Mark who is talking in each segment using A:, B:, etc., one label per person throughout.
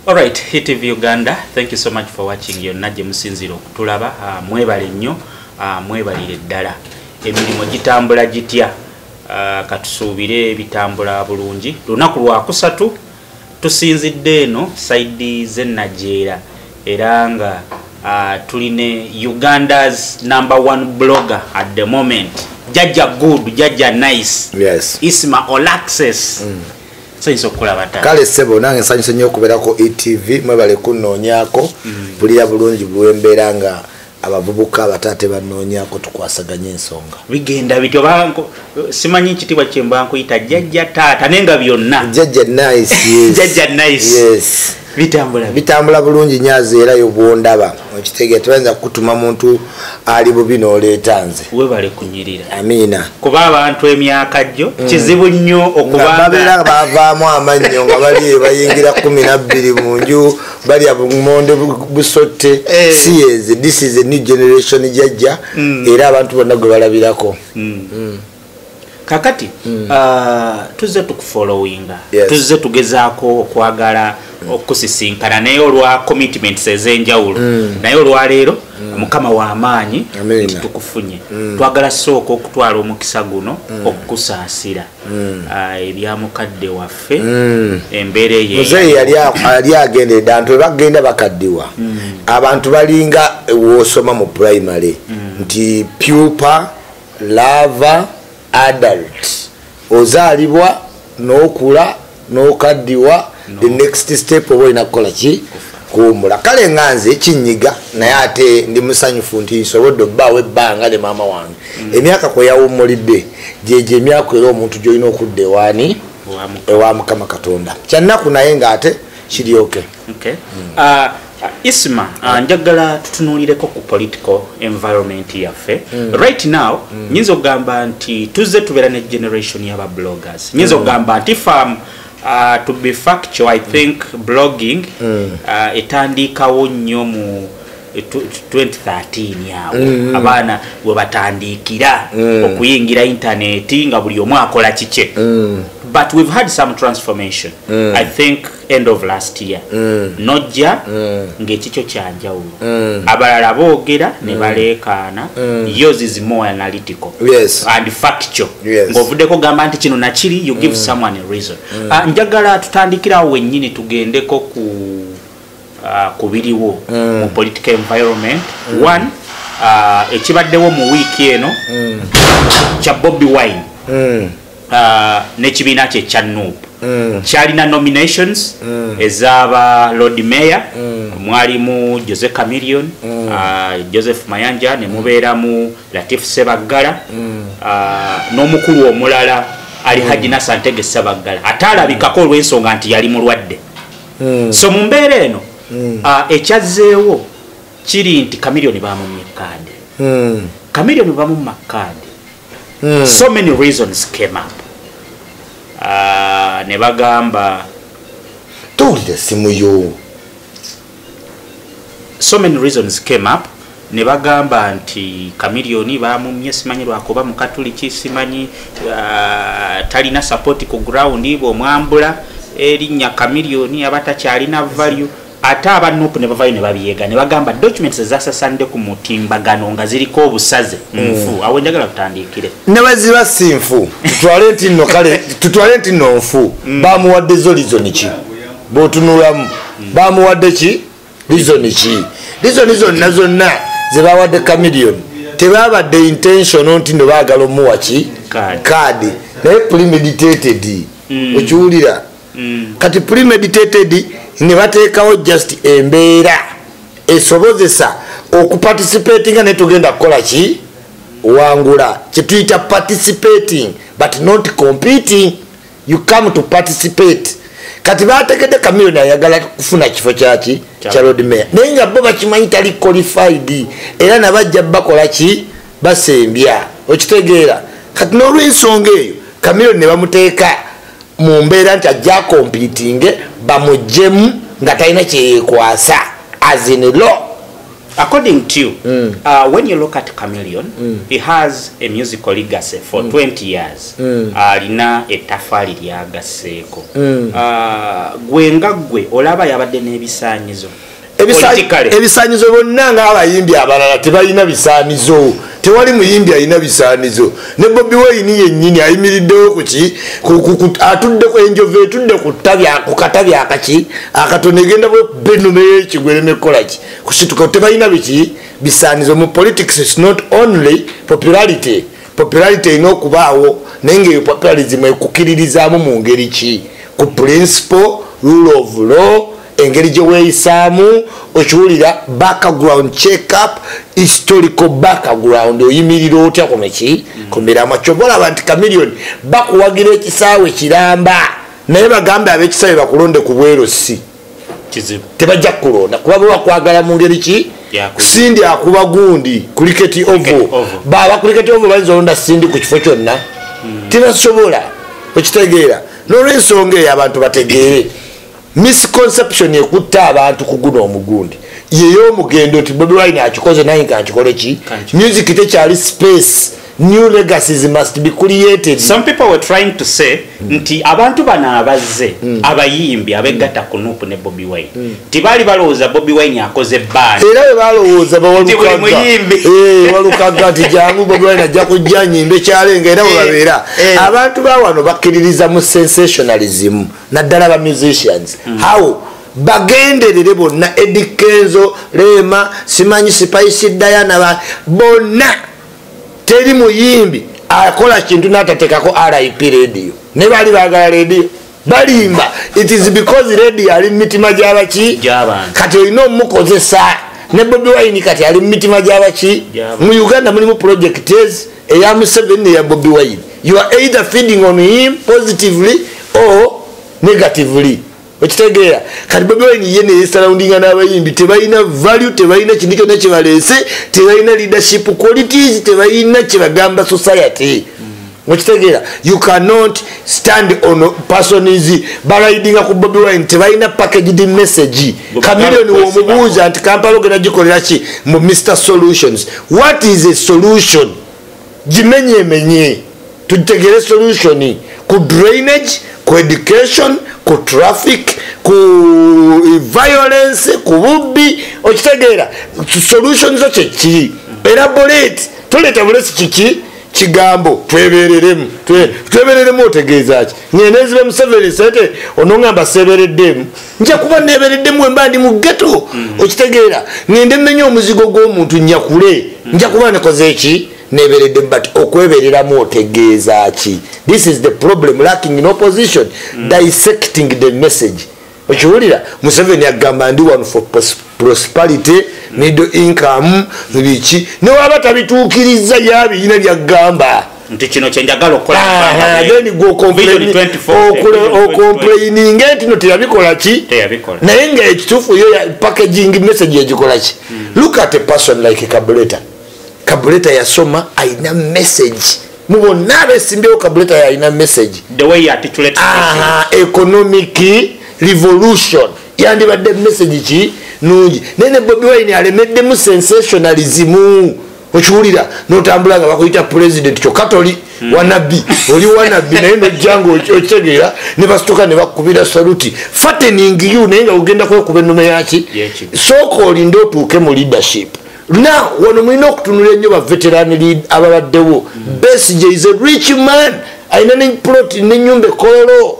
A: Alright, HitTV Uganda, thank you so much for watching your Naje Musinziro Kutulaba, uh, mwebale nyo, uh, mwebalire dala. Emilimo jitambula jitia, uh, katusubire bitambula bulungi. Lunaku lwa kusatu, tusinzi deno, saidi ze Najera, eranga uh, tuline Uganda's number one blogger at the moment. Jaja good, jaja nice. Yes. Isma
B: Olaxes.
A: Mm. nsanyusa okukulaba
B: taata kale ssebo nange nsanyusa nnyo okubeerako etv mwebale kunnoonyaako mm. bulira bulungi bwembeera nga abavubuka abataate banoonyako tukwasaganya ensonga bigenda bityo banko
A: simanyi ekitibwa kyembankuyita jajja taata naye nga byonna jajja nice yes.
B: jajja nice yes.
A: bitambula
B: bitambula bulungi nyazi era yo bwondaba okitegera tebayinza kukutuma muntu ali bubi n'oleeta nze webale kunyirira
A: amiina kuba
B: abantu
A: emyaka jjo mm. kizibu nnyo okubabeera
B: bavaamu amannyo nga bali bayingira kumi nabbiri mu nju balya bumonde busotte eh. siezi this is a new generation jajja mm. era abantu bonna gwe balabirako mm. kakati
A: mm. uh, tuzze tukufollowinga yes. tuzze tugezaako okwagala mm. okusisinkana naye olwa commitments ez'enjawulo mm. naye olwaleero mm. mukama w'amaanyi nti tukufunye mm. twagala sooka okutwala omukisa guno mm. okukusaasira mm. uh, ebya mukadde waffe mm. embeera eyemuzeeyi
B: yali agenderedde abantu webagenda bakaddiwa mm. abantu balinga wosoma mu primary mm. nti pupa lava adult ozaalibwa n'okula n'okaddiwa the next step oba olina kukola ki kuwumula kale nga nze kinyiga naye ate ndi musanyufu nti nsobodde obbaawo ebbanga ne maama wange mm. emyaka kwe yawummulidde gyegyo emyaka era omuntu gy'olina okudda ewaani ewa mukama katonda kyannaku naye ng'ate kiryoke Okay. Mm. Uh, isma
A: uh, ah, njagala tutunuulireko ku political environment yaffe mm. right now mm. nyinza okugamba nti tuzze tubeera ne generation yaba bloggers nyinza mm. okugamba mm. nti fam uh, to be factual i think mm. blogging mm. uh, etandiikawo nnyo mu 2013 awo mm. abaana we batandiikira mm. okuyingira intaneti nga buli omu akola kikye mm. but we've had some transformation mm. i think end of last year mm. nojja mm. ng'ekikyo kyanjawulo mm. abalala boogera ne mm. baleekaana mm. yours is more analytical yes. and factual yes. ng'ovuddeko gamba nti kino nakiri you give mm. someone a reason mm. uh, njagala tutandikirawo wennyini tugendeko ku uh, ku biriwo mm. mu political environment mm. one uh, ekibaddewo mu wiiki eno mm. kya bobi wine mm. uh, nekibiina kye kya nup mm. kyalina nominations mm. ezaba lord mayor mm. mwalimu jose camilion mm. uh, joseph mayanja nemubeeramu mm. latif sebaggala mm. uh, n'omukulu omulala ali mm. haji nasantege sebaggala ate alabikako olw'ensonga nti yali mulwadde mm. so mu mbeera eno mm. uh, ekyazzeewo kiri nti camilion bamumye kaadi mm. camilion bamumma kaadi mm. so many reasons came up uh, ne bagamba
B: towulira simu yo
A: so many reasons came up ne bagamba nti kamiliyoni bamumye simanyi lwakuba mukatuliki simanyi uh, talina sapoti ku ground bwomwambula erinnya kamiliyoni aba takyalina value ate aba nup ne bavayo ne babiyega ne bagamba documents ezasasande ku mutimbagano nga ziriko obusaze mm. nfu awo njagala tutandiikire ne baziba si
B: nfu tutwale nti nno kale tutwale nti nno nfu mm. bamuwadde zo lizoni ki bwotunulamu mm. bamuwadde ki lizoni ki lizoni zonna zonna ze bawadde camilion tebabadde intention nti no baagala omuwa ki kaadi naye premeditated okiwulira mm. kati premeditated ne bateekawo just embeera esobozesa okuparticipatinga naye tugenda kukola ki wangula kyetuyita participating but not competing you come to participate kati bategedde kamiliyoni ayagala kufuna kifo kyaki kya lord mayor naye nga bo bakimanyi tali qualified era nabajja bakola ki basembya okitegeera kati n'olwensonga eyo kamiliyoni ne bamuteeka mu mbeera nti ajja akompitinge bamujjemu nga talina kyeyekwasa azin law
A: according to you mm. uh, when you look at chameleon mm. he has a musical legacy for mm. 20 years mm. alina uh, etafaali lyagasseeko mm. uh, gwe nga gwe olaba yabadde n'ebisaanyizo
B: ebisanyizo byonna ngaabayimbi abalala tebalina bisaanizo tewali muyimbi alina bisaanizo ne bobi weyini yenyini ayimiriddewo kuki atudde enjovu etudde ku katabi akaki akatono egenda benumeyo ekigwere nekolaki kusituka tebalina biki bisaanizo mu politics is not only popularity popularity erina okubaawo naye ngaeyo popularism ekukiririzaamu mu ngeri ki ku principle rule of law engeri gye weeyisaamu okiwulira background check up historical background oyimirira otya kuno ki ku miramwa kyova olaba nti kamiliyoni bakuwagira ekisaawe kiramba naye bagambe ab'ekisaawe bakulonde ku bwerosi tebajja kukulonda kuba bewakwagala mu ngeri ki sindi akuba gundi kuliketi ovo baba kuliketi ovo bayinza olonda sindi ku kifo kyonna hmm. tebasobola okitegeera nolwensonga eyo abantu bategeere misconception ekutte abantu kuguna omugundi yeyomugendo nti bobi wine akikoze naye nga nkikole ki music tekyali space new legacies must be created some people were trying
A: to say mm. nti abantu bano abazze mm. abayimbi abegatta mm. kunup ne bobi wine mm. nti baali balowooza bobi wine akoze baan era we balowooza
B: bawalukaggamuyimbi eh, walukagga nti jangu bobi wine ajja kujja nyimbe kyalenga era webabeera eh, eh. abantu bawano bakkiririza mu sensationalism naddala ba musicians mm. how bagenderere bonna edikenzo lema simanyi sipaisi dayana bonna teri muyimbi akola kintu natatekako rip radio ne bali bagala radio balimba it is because radio ali mumitima gyabaki kati olina omukozesa ne bobi wine kati ali mumitima gyabaki mu uganda mulimu projects eya museveni neya bobi wine you are either feeding on him positively or negatively okitegeera kati bobi wine ye neyesarawundinga n'abayimbi tebalina value tebalina kintu kyonna kyebaleese tebalina leadership qualities tebalina kyebagamba society okitegeera you cannot stand on persons balayidinga ku bobi wine tebalina packaged message kamilioni womubuuza nti kampala ogenda gikolera ki mu mr solutions what is a solution gimenyemenye tutegere solution ku drainage ku education ku traffic ku eh, violence ku bubbi okitegeera solution zo kyekiri era buleti tuleeta bulesi kiki kigambo twebereremu twebereremu otegeeza ki nyenezibwe museveni sente onongamba sebereddemu nja kuba nebereddemu wemba ndi mu geto mm. okitegeera ngende mmenye omuzigo gw'omuntu nyakule mm. nja kuba nekoze eki nebereddemu but okwebereramu otegeeza ki this is the problem lacking in opposition mm. dissecting the message okiwulira museveni agamba ndi one for prosperity prosperity middle income biki newaba tabituukiriza yabiyina byaggamba nti kino
A: kyenjagala
B: okukoleokomplaininga ntino teyabikola ki naye nga ekituufu yo packaging message yagikola ki hmm. look at a person like kabuleta kabuleta yasoma alina message mubonna abesimbyeo kabuleta yalina message
A: economic
B: revolution yandibadde message ki nungi naye ne bobi wine alemeddemu sensationalism okiwulira notambula nga bakuyita president kyokka toli hmm. wanabbi oli wanabbi naye nojjanga okitegeera ne basituka ne bakubira saluti fatening you naye nga ogenda kwekuba ennume yaki sooka olinde otuuke mu leadership now wano mulina okutunula ennyo baveteran ababaddewo hmm. best is a rich man alina ne plot nenyumba ekololo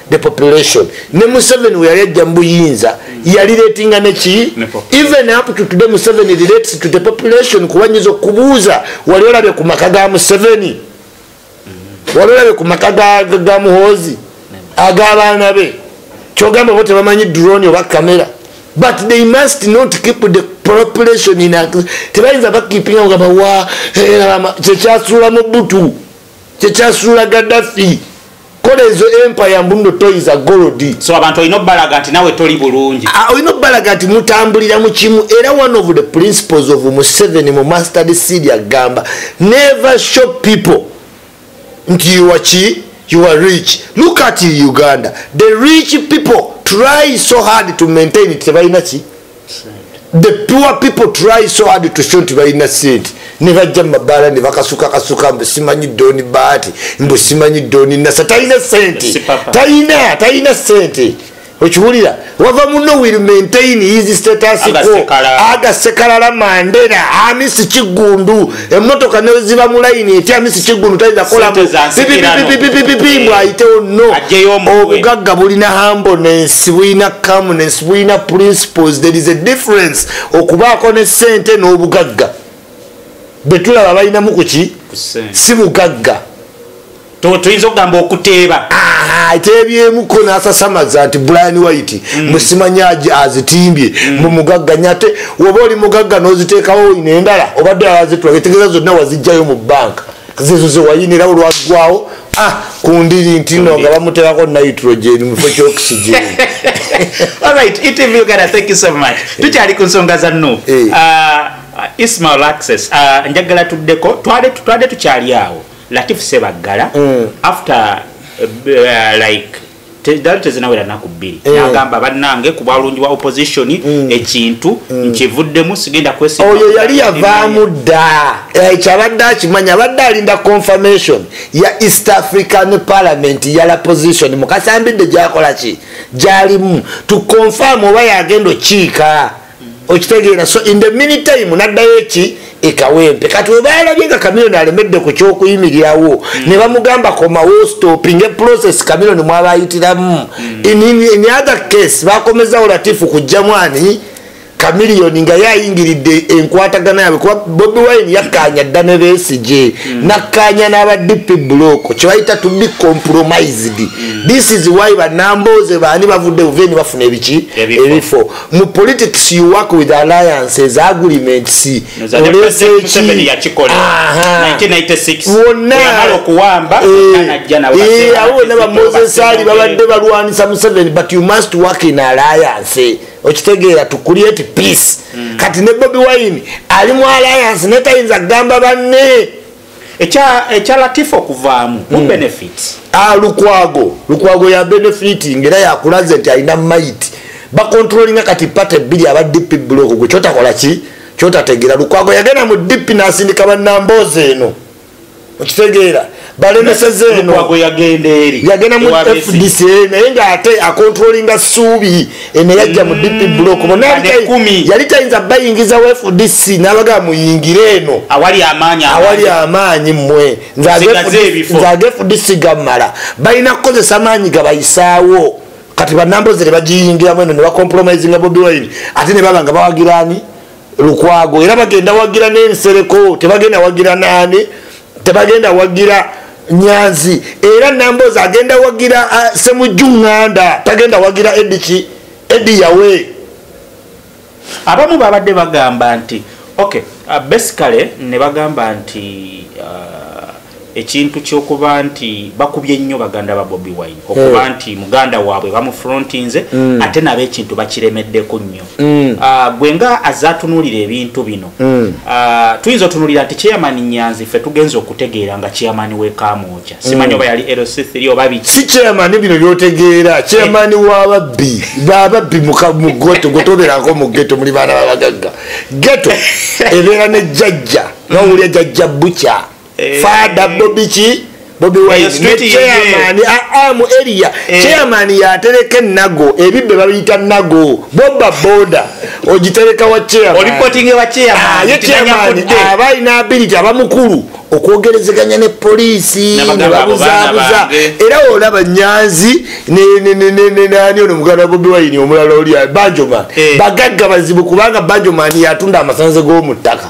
B: the population ne museveni weyali ajja mubuyinza yali ratinga neki even up to today museveni relates to the population kuba nyiza okubuuza wali olabye ku maka ga museveni wali olabye ku maka ga muhoozi ag'abaana be kyogamba bo tebamanyi drone oba kamera but they must not keep the population in tebayinza bakipinga nga bawa eh, kyekyasuula mu butu kyekyasuula gaddafi kola ezo empire mbuno toyiza golodi so abantu olina obalaga
A: nti nawe toli bulungi ah, olina obalaga nti
B: mutambulira mu kimu era one of the principles of museveni mu masterd seed agamba never show people nti yuwa ki you are rich look at uganda the rich people try so hard to maintain it tebalina ki the pure people try so hard to show nti balina sente ne bajja mu mabaala ne bakasukakasuka mbu simanyi doni baati mbu simanyi doni nasa talina sente talina talina sente okiwulira wava muno will maintain his status quo agasekalala mandera amisi kiggundu emotoka neziba mulayini etyamisi kigulu tayinza kolapipipipipipipi mbw ayitewo no obugagga bulina hambones bulina comunes bulina principles there is a difference okubaako ne sente n'obugagga betulaba balinamu kuki si bugagga
A: tuyinza okugamba okuteeba ateebyemuko
B: nasasamaza nti brian white mm. musimanyaji azitimbye mm. mumugagga nye ate woba oli mugagga noziteekawo ino endala obadde azitula etegeeza zonna wazijjayo mu banka zezo zewayinira olwaggwawo ah, ku ndiri ntino nga bamuteerako nitrogen mufo kyoxygen
A: tukyali ku nsonga za nu eh. ah, ismail access ah, njagala tuddeko twade tukyali awo Latif Sebaggala mm. after uh, like dali tezinawera naku bbiri eh. nagamba bannange ku bwalungi bwa opposition mm. ekintu mm. nkivuddemu sigenda kwesioyo yali yavaamu
B: dda eh, kyabadde akimanya abadde alinda confirmation ya east african parliament yala position mukasambidde gyakola ki gyalimu tuconfirm oba yagenda okiika okitegeera so in the mini time naddayo eki ekawempe kati webalabye nga kamiloni alemedde ku kyokuyimirirawo mm. ne bamugamba komawo stopping eprocess kamiloni mwabayitiramu mm. in, in, in other case bakomezawo latifu kujjamu ani kamiliyoni nga yayingiridde enkwatagana yabwe kuba bobi wine yakkaanya dda ne besigye mm. nakkaanya n'aba dp block kyebayita to be compromised mm. this is why banambooze baani bavudde buveni bafuna ebiki ebifo mu politics you work with alliances agreements olesekiwonnaawonna bamozesali babadde balwanisa museveni but you must work in alliance okitegeera to create peace mm. kati ne bobi wine ali mu alliance netayinza kugamba banne
A: ekya latifa okuvaamu mu hmm. benefit ah, lukwago lukwago ya benefit ngaera yakulaze nti alina mayiti bakontrolinga kati pate ebbiri aba dp buloko gwe kyotakola ki kyotategeera lukwago yagenda mu dp nasindika banamboozi eno okitegeera balemeseza eno yagenda
B: mu fdc naye ngaate akontrolinga suubi eno yajja mu dp block yali tayinza bayingiza w fdc nabagaa muyingire eno
A: awali amaanyi
B: mmwe nze age fdc gammala balina kukozesa maanyi gabayisaawo kati banambozi nebagiyingiramu eno nebacompromisinga bobi wine ate nebaba nga bawagirani lukwago era bagenda wagira nensereko tebagenda wagira nani tebagenda wagira nyanzi era nambozi agenda wagira uh, semujju nganda tagenda wagira ediki edi yawe
A: abamu babadde bagamba nti okay uh, basically ne bagamba nti uh, ekintu kyokuba nti bakubye nnyo baganda ba bobi wine okuba hey. Eh. nti muganda waabwe bamufrontinze mm. ate nabo ekintu bakiremeddeko nnyo mm. ah, gwe nga azze atunuulira ebintu bino mm. ah, tuyinza otunuulira nti chairman nyanzi ffe tugenza okutegeera nga chairman wekamwoja mm. simanyi oba yali lc3 oba biki si chairman bino
B: byotegeera chairman eh. wababbi bababbi mugoto gwetubeerako mu geto muli baana babagagga geto ebeera ne jajja nowulya jajja bukya eh. fada bobi ki bobi winekyeyamaani aamu ah, ah, eriya eh. kyeyamaani yatereka enago ebibbe babiyita nago boba boda ogitereka wa kyeyamaani
A: ah, aba alina ability
B: aba mukulu okwogerezeganya ne poliisi nebabuzaabuza era olaba nyanzi nani ono muganda bobi wayini omulala oli banjoman eh. bagagga bazibu kubanga banjoman yatunda amasanze g'omu ttaka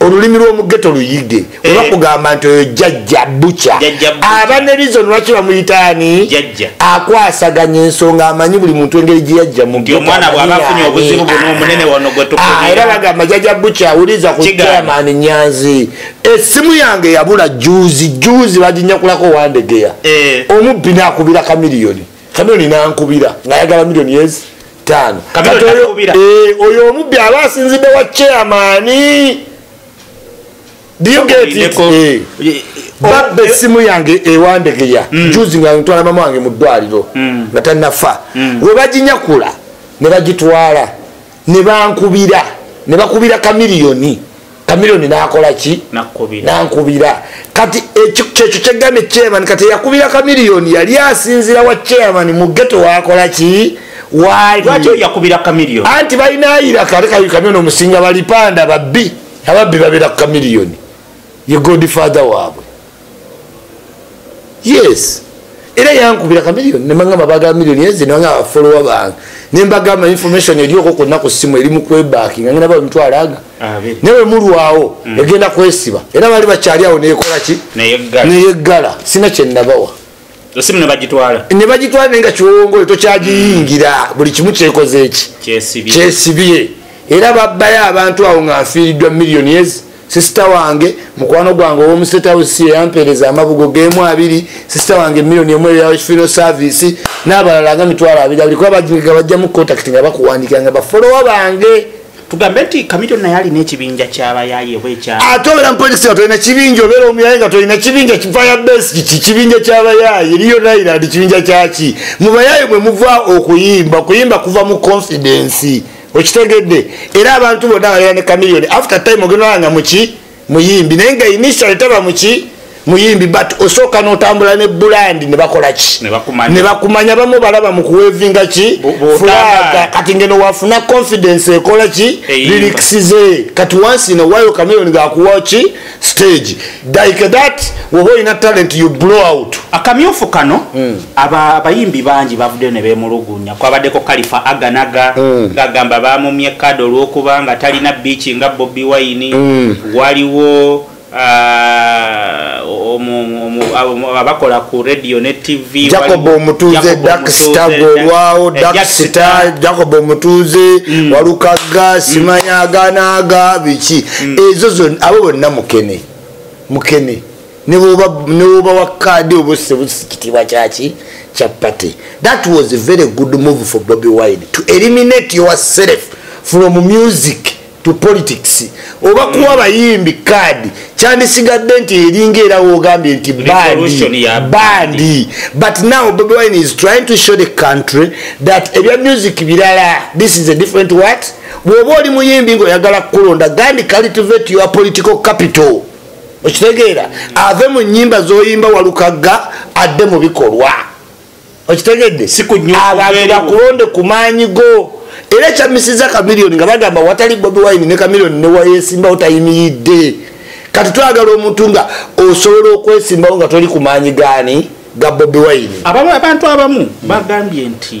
B: olulimi lwomu geto luyige eh. oba kugamba nti oyo jajja buca aba ne reason lwaki bamuyitaani akwasaganya ensonga amanyi buli muntu engeri gyeyajja muera bagamba jajja buca awuliza ku chairman nyanzi esimu yange yabula juzi juzi bajinyakulako wandegeya eh. omubbi nakubira kamiliyoni kamiliyoni nankubira ngayagala miliyoni yezi tano kati oyo eh oyo omubbi aba asinzidde wa chairman do you get it eh. eh babba eh, essimu yange ewandegeya mm. juzi nga ntwala mama wange mu ddwaliro mm. nga tanafa mm. we baginyakula ne bagitwala ne bankubira ne bakubira kamiliyoni kamiliyoni nakola ki nankubira kati kyekyo kyegambye chairman kati yakubira kamiliyoni yali asinzira wa chairman mu geto wakola ki
A: anti balinayira
B: kalekamiliyoni omusinga balipanda babbi ababbi babera ku kamiliyoni ye godfather waabwe yes era yankubira kamiliyoni nemagamba bagala miliyoni ezi nanga afolowa bange nembagamba information erioko konna ku ssimu eri mukwebakinga ngenda ba omuntu alaga nawe mulwawo mm. egenda kwesiba era bali bakyali awo neyekola ki neyeggala sina kyenabawa osimu
A: nebagitwala nebagitwala naye nga
B: kiwongole tokyagiyingira mm. buli kimu kyekoze eki kyesibye era babbayo abantu awo nga nfiiriddwa millionis sisita wange mukwano gwange owomusetawusi eyampeereza amabugo gemu abiri sisita wange millioni emu eyakifiro service n'abalala nga mitwalo abiri abiri kuba bajinga bajjamu contact nga bakuwandikira nga bafolowa bange tugambe nti
A: kamito naye alina ekibinja kyabayaye oba ekya ate obeera mupolitiki nga tolina
B: kibinja obeera omuyaye nga tolina kibinja kifaya besi kiki kibinja kyabayaye eriyo nailand kibinja kyaki mubayaye mwe muva okuyimba okuyimba kuva mu confidence okitegedde era abantu bonna balera ne kamiliyoni after time ogenda nga muki muyimbi naye nga initial taba muki muyimbi but osooka notambula ne bulandi nebakolaki nebakumanya bamu balaba mukuwevinga ki fulaga kati ngeno wafuna confidence ekola ki liriksize kati once in a while cameron gakuwa ki stage like that woba olina talent you blow out akamyufu kano mm.
A: abayimbi bangi bavuddeyo ne beemulugunya kwabaddeko kalifa aganaga mm. ng'agamba baamumye kade olw'okuba nga talina biiki nga bobi wayini mm. waliwo ah, abakola ku radio ne tv jacob omutuuze
B: daksitagolwawo eh, daksita jacob omutuuze mm. walukaga simanyaganaaga biki ezo zon abo bonna mukene mukene newobawa kaadi oba osebusi kitiibwa kyaki kya party that was a very good move for bobi wine to eliminate yourself from music to politics oba kuwa abayimbi kaadi kyandisigadde nti eringa era wogambye nti bandi but now bobi wine is trying to show the country that ebya music birala this is a different what bwoba oli muyimbi ngaoyagala kukulonda gandi cultivate your political capital okitegeera ave mu nyimba zoyimba walukagga adde mu bikolwa okitegedde abantu bakulonde ku maanyi go era ekyamisiza kamiliyoni nga bagamba watali bobi wine ne kamiliyoni newayesimbawo tayimiridde kati twagala omuntu nga osobola okwesimbawo nga toli ku maanyi gaani ga bobi wine abantu abamu
A: bagambye nti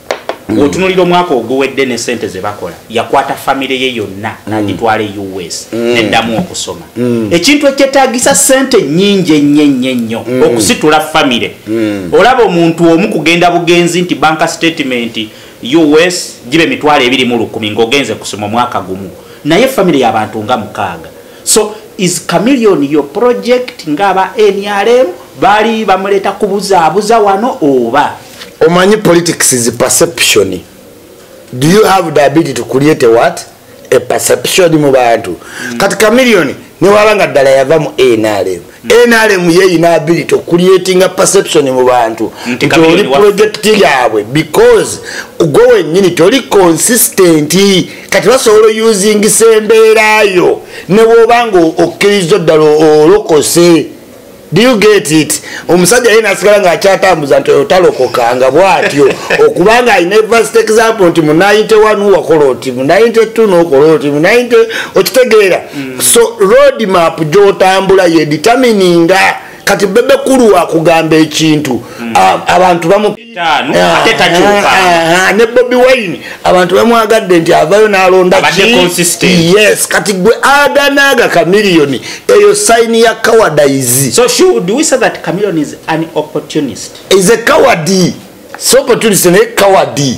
A: mm. otunulira omwaka oguwedde ne sente zebakola yakwata famire ye yonna mm. nagitwala e us mm. neddamu okusoma mm. ekintu ekyetagisa sente nyingi ennyo ennyo ennyo mm. okusitula famire mm. olaba omuntu omu kugenda bugenzi nti banka statement us gibe emitwalo ebiri mu lukumi ngaogenze kusoma omwaka gumu naye famire yabantu nga mukaaga so is chameleon your project nga aba nrm baali bamuleeta kubuzaabuza wano oba omanyi
B: politics is perception do you have the ability to create a what a perception mu bantu mm. kati kamiliyoni newaba nga ddala yava mu nrm nrm mm. yeyina ability okuliatinga perception mu bantu mm, nti oli project yabwe because gwe wenyini toli consistent kati basobola oyusingisa embeerayo nebwoba nga okkiriza ddala olokose do you get it omusajja ye nasigala nga akyatambuza nti oyo talokoka nga bwatyo okubanga alina evast example nti mu 91 wakola oti mu 92 nokola oti mu 90 okitegeera mm. so road map gyotambula yeditamininga kati bebe kulu wakugamba ekintu mm. abantu bamu ttaano ah, ate takyuka ah, ah, ne bobi wine abantu bamwagadde nti avayo nalonda yes kati gwe aganaaga kamiliyoni eyo sayini ya kawadayizi so should we say
A: that kamiliyoni is an opportunist is a coward
B: si opportunist naye coward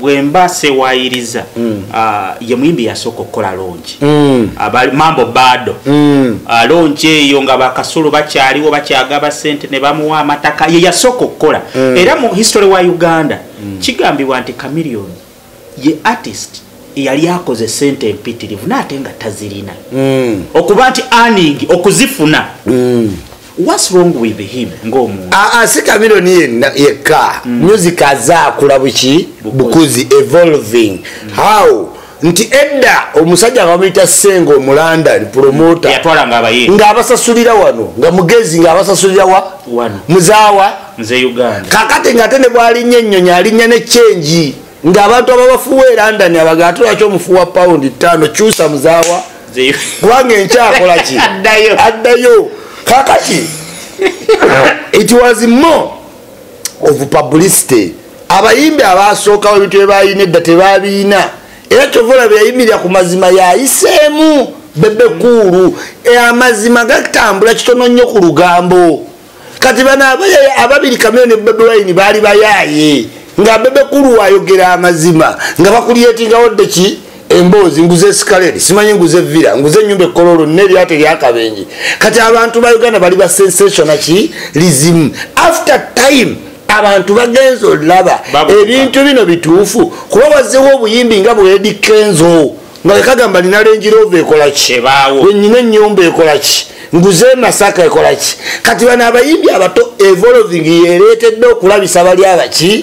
A: bwemba sewayiriza mm. ah, ye muyimbi yasooka okukola longi mm. mambo bado mm. ah, longi eyo nga bakasulu bakyaliwo bakyagaba sente ne bamuwa amataka ye yasooka okukola era mu history wa uganda kigambibwa nti camilion ye artist yali akoze sente empitirivu naate nga tazirina okuba nti aningi okuzifuna What's wrong with him ngomuntu? Ah, ah si Camilo ni
B: yeka. Mm. Music aza kula buki bukuzi evolving. Mm. How? Nti edda omusajja akamita sengo omulanda ni promoter. Yatwala ngaba yeye. Nga
A: abasasulira wano,
B: nga mugezi nga abasasulira wa? Wano.
A: Muzawa. Mze
B: Uganda.
A: Kakate ngate ne bwali
B: nyenyo nyali nyane change. nga abantu ababafuwa e london abaga ate lwaki omufuwa pawundi ttaano kyusa muzaawa kubanga enkyakola ki addayo kakaki it was more of publicity abayimbi abaasookawo ebintu byebalina edda tebabiina era kyova olaba yayimirira ku mazima yayiseemu bebekuulu e, amazima gatambula kitono nnyo ku lugambo kati bano abayaya ababiri kamere ne bebe wayini baali bayaaye nga bebe kulu wayogera amazima nga bakulyetingawo dde ki emboozi nguze esikaleri simanyi nguze vira nguze enyumba ekkola olwo nina eryate eryakabenje kati abantu ba uganda bali ba sensationa ki lizimu after time abantu bagenza olaba ebintu bino bituufu kuba wazewo obuyimbi nga bwedikenzo nga kagamba nina lenjirova ekolaki wenyina enyumba ekolaki nguze emasaka ekolaki kati bano abayimbi abato evolving yeretedde okulabisa bali abaki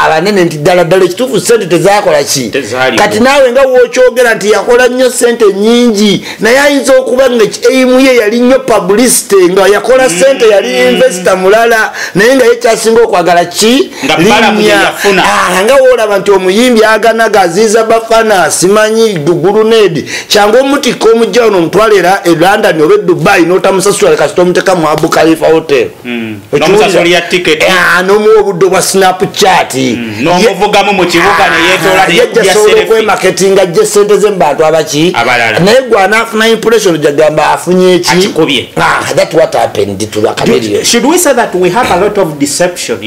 B: abanene nti ddala ddala ekituufu sente tezakolaki kati naawe nga wokyogera nti yakola nnyo sente nyingi naye ayinza okuba nga eimu ye yali nnyo publicity nga yakola sente yali mm. investa mulala naye nga ye kyasinga okwagala ki nga wolaba nti omuyimbi aganaga aziiza bafana simanyi dugulunedi kyangu omutikka omujja ono omutwala era e london oba edubai notamusasula kasita omuteka mu abu kalifa hotel
A: hmm. nomuwa obudde obwa
B: snapchat hmm.
A: ah, yajjasobola
B: okwemaketinga jje sente ze mubantu abaki naye gwe anaafuna impression jagamba afunye eki ah, that what happened to
A: the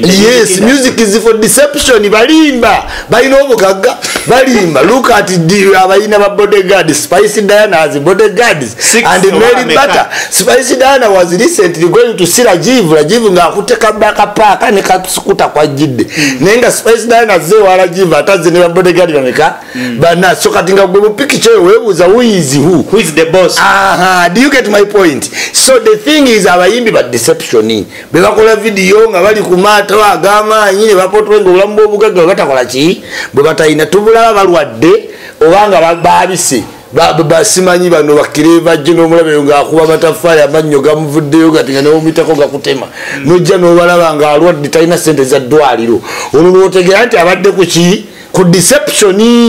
A: yes music is
B: for deception balimba balina obugagga balimba look at the abayina ba bodyguard spicy diana as bodyguards Six and mary butter spicy diana was recently going to see rajiv rajiv nga akutte kabaka paaka ne kasukuta kwa jidde mm. naye nga spicy diana ze wa rajiv ataze ne ba bodyguard bameka mm. bana so kati nga gwe mupikica eyo webuuza who is who who is the boss aha uh -huh. do you get my point so the thing is abayimbi ba deception bebakola vidiyo nga bali ku maato ag'amaanyi ne bapotwe nga obulamu bw'obugagga bwe batakola ki bwe batalina tubulaba balwadde oba nga baabise basimanyi bano bakire bajje n'omulabeyo ng'akuba amataffaali amannyo gamuvuddeyo gati nga newomitako gakutema hmm. nojja n'obalaba ng'alwadde talina ssente za ddwaliro olwo lwotegera nti abadde ku ki ku deceptioni